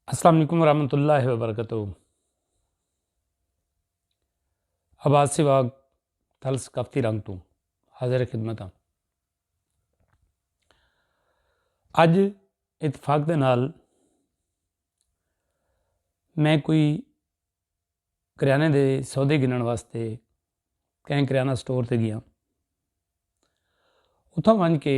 السلام علیکم ورحمۃ اللہ وبرکاتہ آباد سے واگ تھل ثقافتی رنگ تو حاضر خدمت ہاں اج اتفاق دے نال میں کوئی کریانے دے سودے گنن واسطے کہیں کریانہ سٹور تے گیا اتھاں ونج کے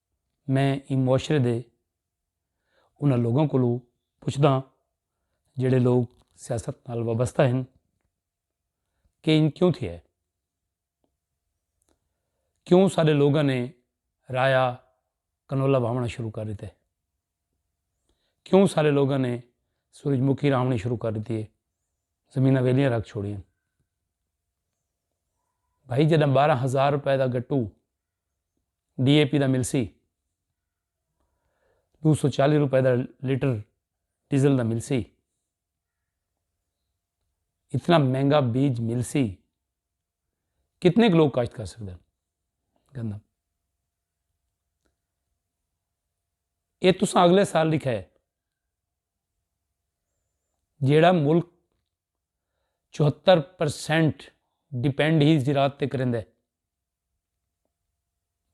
میں ایں معاشرے دے انہاں لوکاں کولوں پچھدا ہاں جیہڑے لوک سیاست نال وابستہ ہن کہ ایں کیوں تھیا ہے کیوں سارے لوکاں نے رایا کنولا بھاونا شروع کر دیتے کیوں سارے لوکاں نے سورج مکھی رامنی شروع کر دیتی ہے زمینہ ویلیاں رکھ چھوڑیاں بھائی جداں بارہ ہزار روپے دا گٹو۔ ڈی اے پی دا ملسی دو سو چالی روپے دا لیٹر ڈیزل دا ملسی۔ اتنا مہنگا بیج ملسی کتنے لوگ کاشت کر سکتے ہیں گندہ یہ تساں اگلے سال لکھے جیڑا ملک چوہتر پر سینٹ ڈیپینڈ ہی زراعت تے کریندے ہے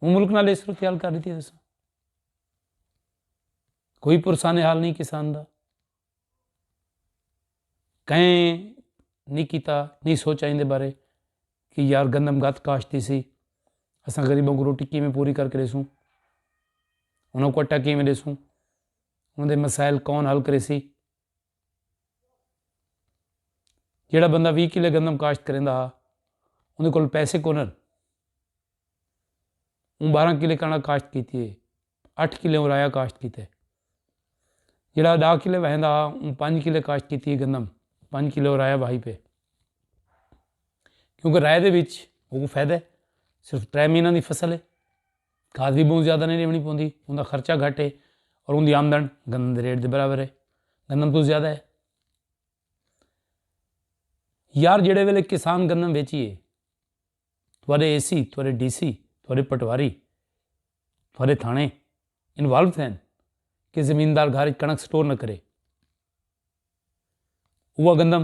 ہوں ملک نال اس صورتحال کر دیتی ہے کوئی پرسان حال نہیں کسان دا کہیں نہیں کیتا نہیں سوچا ان دے بارے کہ یار گندم گت کاشتی سی اساں غریبوں کو روٹی کیویں پوری کر کے دیسوں انہوں کو اٹا کیویں دیسوں انہوں دے مسائل کون حل کرے سی جیڑھا بندہ وی کلے گندم کاشت کریندا ہا اوں کول پیسے کون اوں بارہ کلے کنڑک کاشت کیتی ہے اٹھ کلے رایا کاشت کیتے جیڑھا ڈاہ کلے وہندا ہا اوں پنج کلے کاشت کیتی ہے گندم پنج کلے رایا واہی پے کیونکہ رائے دے وچ فائدہ صرف ترے مہینے دی فصل ہے گھاس دی بھوں زیادہ نہیں ݙیوݨی پوندی، اوندا خرچہ گھٹ ہے اور اوندی آمدن گندم دے ریٹ دے برابر ہے، گندم توں زیادہ ہے۔ یار جیڑھے ویلے کسان گندم بیچیے، تہاݙے اے سی، تہاݙے ڈی سی، تہاݙے پٹواری، تہاݙے تھاݨے انوالو تھئن کہ زمیندار گھر کنݨک سٹور نہ کرے، اوہ گندم۔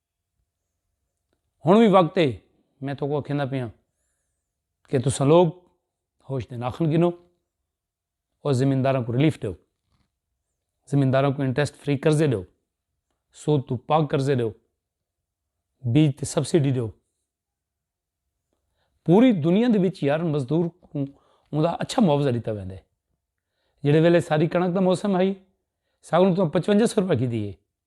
ہن وی وقت ہے میں تو کو کھیندا پیاں کہ تساں لوگ ہوش دے ناخن گنو اور زمینداراں کو ریلیف دو زمینداراں کو انٹرسٹ فری قرضے دو سود تو پاک قرضے دو بیج تے سبسڈی دو پوری دنیا دے وچ یار مزدور کوں انہاں دا اچھا معاوضہ ݙتا ویندے جیڑھے ویلے ساری کنڑک دا موسم ہئی ساکوں تساں پچوجھا سو روپے گھدی ہے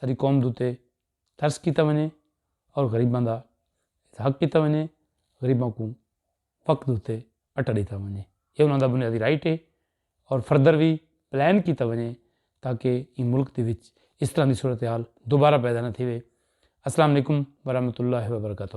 ساری قوم دے اتے ترس کیتا ونڄے اور غریباں دا حق کیتا ونڄے، غریباں کوں وقت اتے اٹا ݙیتا ونڄے، اے انہاں دا بنیادی رائٹ ہے اور فردر وی پلان کیتا ونڄے تاکہ ایں ملک دے وچ اس طرح دی صورتحال دوبارہ پیدا نہ تھیوے۔ السلام علیکم ورحمۃ اللہ وبرکاتہ۔